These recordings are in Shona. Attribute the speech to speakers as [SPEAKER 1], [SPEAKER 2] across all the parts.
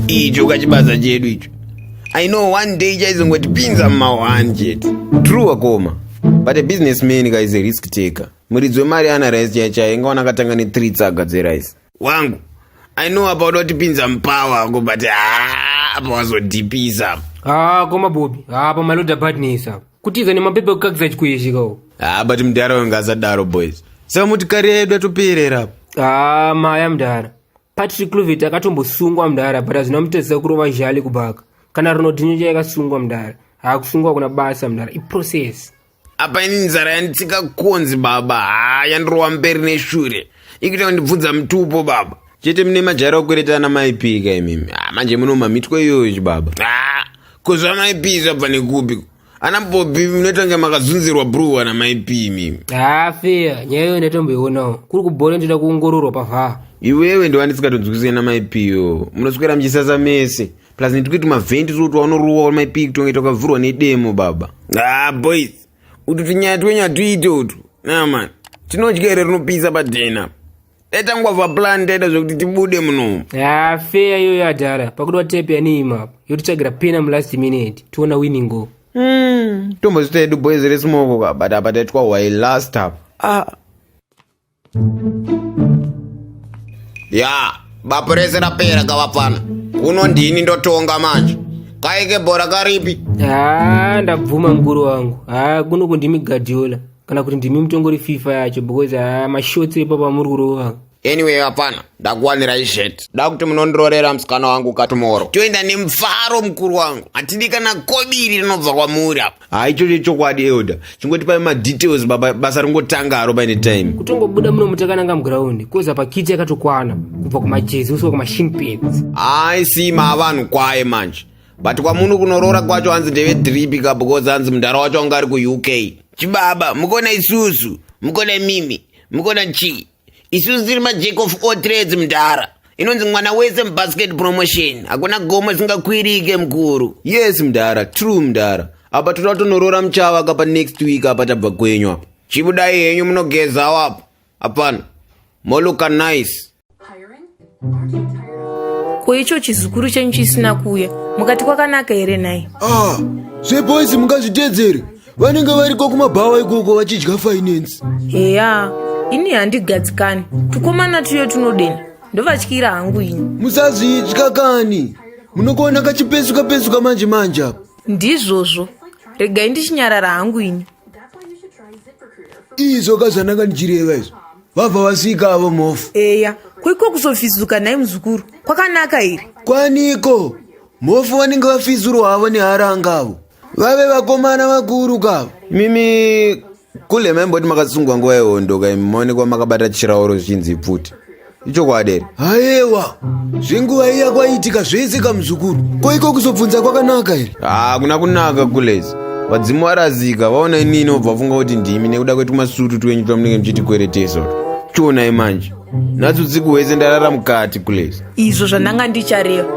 [SPEAKER 1] icho kachibaza chedu icho i know one day chaizongotipinza mumawan chete true akoma but a business man guys a risk taker muridzi wemari ana rice chaichai ingaona akatanga ne3 tsaga dzerice wangu i know apa unotipinza mupawa wako but haa apa wazodhipisa apa haa koma
[SPEAKER 2] bobi haa apa maloda badness apa kutiza nemapepa ekukakisa chikuishikawo haa but mudhara wayo
[SPEAKER 1] ngaasadaro boys saka muti kari yedu atoperera apa haa maya
[SPEAKER 2] mudhara patrick clovet akatombosungwa mudhara but hazvina mutadzisa kurova zhali kubaka kana ronodhinyo chayakasungwa mudhara haa kusungwa kuna basa mudhara iprocess apa ini
[SPEAKER 1] nzara yanditsika konzi baba haa yandirova mberi neshure ikuita kundibvunza mutupo baba chete mune majara okweretana maipika imimi ah, manje munomamitwa iyoyo chibaba ah, ko zvamaipi zvabva nekupi ana bobi munotange makazunzirwa bruwa namaipi imimi haa ah, feya nyaya
[SPEAKER 2] iyo ndatomboionawo kuri kubhore ndoda kuongororwa pavhaa iwewe
[SPEAKER 1] ndovandisingatonzwisisana maipiyo munoswera muchisasa mese plus netikuti mavhendi tiri kuti wanorowa maipii kutongaita ukavhurwa nedemo baba ah boys utu tinyaya twenyu hatuite utu naman tinodya here rinopisa padhena taitangwava plan taita zvekuti tibude munomu ah, feya iyoyo
[SPEAKER 2] adhara pakuti watepe yanii mapo yotitsvagira pena mulast minute tiona winningo hmm, tombozita
[SPEAKER 1] yedu boys resmoko ka but apa taitwa why last up ah. ya bapo rese rapera kavapfana kuno ndini ndotonga manje kaike bhora karipi haa ndabvuma
[SPEAKER 2] mukuru wangu haa kuno kundimi gadiola kana kuti ndimi mutongori fifa yacho because haa mashotsi epa pamuri kurova anyway vapfana
[SPEAKER 1] ndakuwanirai zhet da kuti munondirorera musikana wangu katumoro toenda nemufaro mukuru wangu hatidi kana kobiri rinobva kwamuri apa haa ichocho chokwadi elder chingoti pae madetails baba basa ringotanga haro paine time kutongobuda muno mutakananga
[SPEAKER 2] muground koza pakiti yakatokwana kubva kumajezi usiwa kumashin pins hayi sima
[SPEAKER 1] avanhu kwaye manje but kwamuno kunoroora kwacho hanzi ndeve dripi ka because hanzi mundara wacho anga ari kuuk chibaba mukona isusu mukona mimi mukona chii isusu tiri majack of all trades mdhara inonzi mwana wese mubasket promotion hakuna gomo isingakwirike mukuru yes mdhara true mdhara apa toda kutonoroora muchava kapa next week apa tabva kwenyu apa chibudai henyu munogezawo apa apana moluka nice
[SPEAKER 3] ko icho chizukuru chenyu chisina kuuya mukati kwakanaka here nhai ah zveboys
[SPEAKER 4] mungazviteedzere vanenge variko kumabhawa ikoko vachidya finance heya
[SPEAKER 3] ini handigadzikani tukomana tuyo tunodena ndovatyira hangu ini musazvitya
[SPEAKER 4] kani munokuona kachipesuka pesuka manje manje apa ndizvozvo
[SPEAKER 3] regai ndichinyarara hangu ini
[SPEAKER 4] izvo ka zvandanga ndichireva izvo vabva vasvika avo mofu eya koiko
[SPEAKER 3] kuzofizuka nhai muzukuru kwakanaka here kwaniko
[SPEAKER 4] mofu vanenge vafizurwa havo neharanga avo vave vakomana vakuru kavo mimi
[SPEAKER 1] kule maimboti makasungwa nguva yehondo ka imi maonekwa makabata chirauro zvichinzi pfuti ichokwadi here hayewa
[SPEAKER 4] zvenguva iya kwaiitika zvese kamuzukuru koiko kuzobvunza kwakanaka here hakuna kunaka
[SPEAKER 1] kulezi vadzimu varazika vaona inini obva vafunga kuti ndimi nekuda kwetumasutu twenyu twamunenge muchitikweretesa chionai manje natsu tsiku hwese ndarara mukati kulesa izvo zvandanga
[SPEAKER 3] ndichareva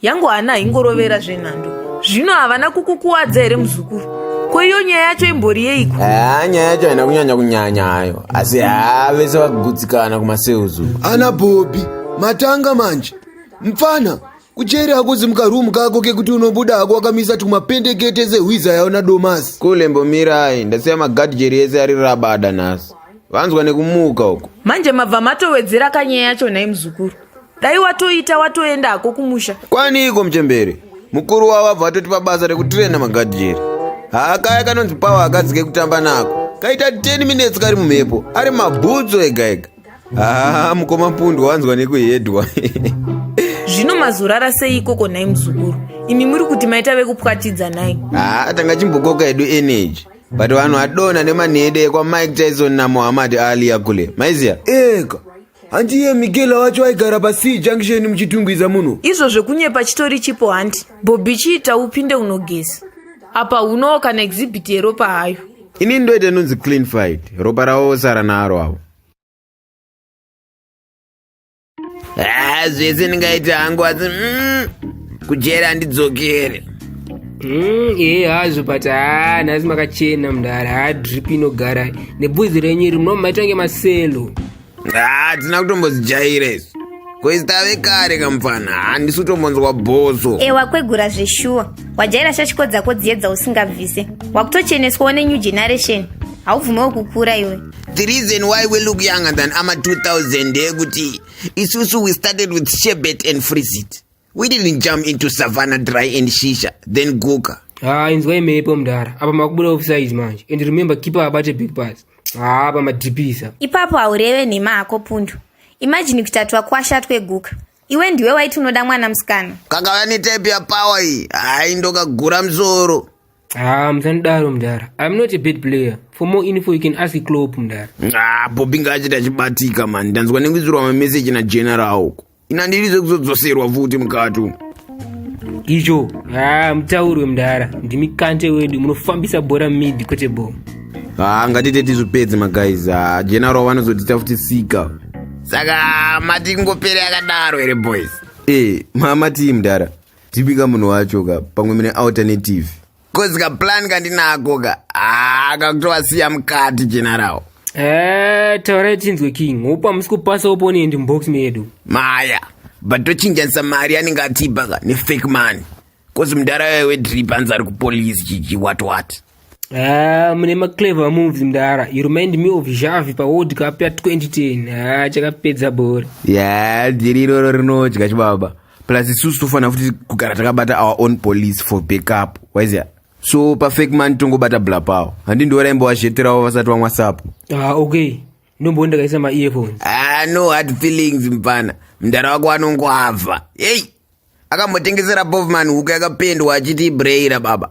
[SPEAKER 3] yangu hana haingorovera zvenhando zvino havana kukukuwadza here muzukuru ko iyo nyaya yacho imbori yeiko haa nyaya yacho haina
[SPEAKER 1] kunyanya kunyanya hayo asi haa vese vagutsikana kumaseuzu ana bhobi
[SPEAKER 4] matanga manje mpfana Kujeri hakuzi mukarumu kako kekuti unobuda hako wakamisa tumapendekete zehwiza yaona domasi. Kule mbomirai
[SPEAKER 1] ndasiya magadjeri ese ari rabada nhasi. Vanzwa nekumuka uko. Manje mabva matowedzera
[SPEAKER 3] kanyaya yacho nhai muzukuru. Dai watoita watoenda hako kumusha. Kwani iko mchembere.
[SPEAKER 1] Mukuru wavo abva atotipa basa rekutirena magadjeri. Haakaya kanonzi pawa akadzike kutamba nako. Kaita 10 minutes kari mumhepo ari mabhutsu ega ega. haa ah, mukoma pundu wanzwa nekuhedwa
[SPEAKER 3] zvino mazorara sei ikoko nhai muzukuru imi muri kuti maita vekupwatidza nhai haa ah, tanga chimbokoka
[SPEAKER 1] hedu energy but vanhu adona nemanhede ekwamike tyson namohammad alia kule maiziya eka
[SPEAKER 4] handiye mikela wacho aigara pasii junction muchitungwiza muno izvo zvekunyepa
[SPEAKER 3] chitori chipo handi bobi chiita upinde unogeza apa unowo kana exhibit yeropa hayo Ini ndoita inonzi
[SPEAKER 1] clean fight. Ropa ravo vosara naro avo. Ah, zvese ndingaita hangu asi mm, kujera handidzokere. Mm, ee
[SPEAKER 2] hazvo but haa nhasi makachena mdara haa drip inogara nebhuzi renyu iri munomaita kunge maselo hatina
[SPEAKER 1] ah, kutombozijaira izvi koizitave kare kamupfana handisi kutombonzwa bhoso e wakwegura zveshuwa
[SPEAKER 5] wajaira shashiko dzako dziye dzausingabvise wakutocheneswawo nenew generation haubvumewo kukura iwe the reason why
[SPEAKER 1] we look younger than ama 2000 ndeyekuti isusu we started with shebet and freezit We didn't jump into Savannah dry and shisha, then Guga. Ah, inzwa imepo
[SPEAKER 2] mdara. Apa makubuda offside manje. And remember keeper abate big pass. Ah, apa madipisa. Ipapo aureve
[SPEAKER 5] nema ako pundu. Imagine kutatwa kwasha twe Guga. Iwe ndiwe waiti unoda mwana msikana. Kakauya ni type ya
[SPEAKER 1] power iyi. Ai ndokagura msoro. Ah, mzandaro
[SPEAKER 2] mdara. I'm not a bad player. For more info you can ask Klopp mdara. Ah, Bobby ngaachita
[SPEAKER 1] chibatika man. Ndanzwa nekudzirwa ma message na general uko. ina ndirize kuzodzoserwa futi mukati umu
[SPEAKER 2] icho haa mutaurwe mdara ndimi kante wedu munofambisa bhora mid kwete bo haa ngatite
[SPEAKER 1] tizvipedze maguys haa general vanozotita futi sika saka mati kungopere akadaro here boys e mama tii mdara tipika munhu wacho ka pamwe mune alternative Kozi ka plan kandinako ka. Ah, kakutovasiya mukati general. Eh,
[SPEAKER 2] taurai tinzwe king. Hope hamusi kupasa opponent mubox medu. Maya,
[SPEAKER 1] but tochinjanisa mari anenge atipa ka nefake money. Kozi mudhara waye wedrip anzi ari kupolice chichi what what. Ah,
[SPEAKER 2] mune maclever moves mdara. You remind me of Xavi pa World Cup ya 2010. Ah, chakapedza bhora. Yeah, dhiri
[SPEAKER 1] iroro rinodya chibaba. plus isusu tofanira futi kugara takabata our own police for backup waizia so pafake man tongobata bla pawo handi ndiwaraimbo wazheterawo vasati wamwa sapo ah okay
[SPEAKER 2] ndombo ndakaisa ma earphones ah no hard
[SPEAKER 1] feelings mpana mdara wako anongwavha hey akambotengesera bovman huku yakapendwa achiti ibreyira baba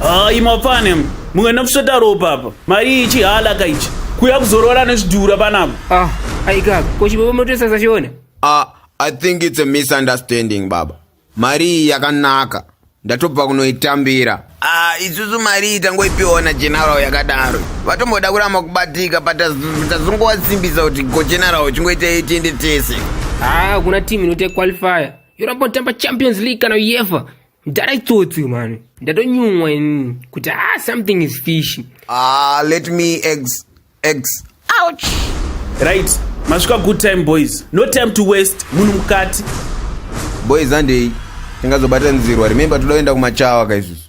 [SPEAKER 6] hayi mapane muenda kusveta ropa apa mari ichi haalaka ichi kuya kuzorora nezvidhura panapa ah aikaka
[SPEAKER 2] ko chibobo motesa sachiona ah i
[SPEAKER 1] think it's a misunderstanding baba mari iyi yakanaka ndatobva kunoitambira ah isusu mari iyi tangoipiwa na general yakadaro vatomboda kuramba kubatika but tazongowasimbisa kuti go general chingoita itiende tese ah kuna team
[SPEAKER 2] inote qualifier yoramba kutamba champions league kana uefa mdara itsotsi mani ndatonyumwa ini kuti ah something is fish ah let me
[SPEAKER 1] eggs eggs ouch
[SPEAKER 6] right masvika good time boys no time to waste munhu mukati
[SPEAKER 1] boys andei tingazobata nzirwa remember
[SPEAKER 6] toda kuenda
[SPEAKER 1] kumachawa kaizvizvi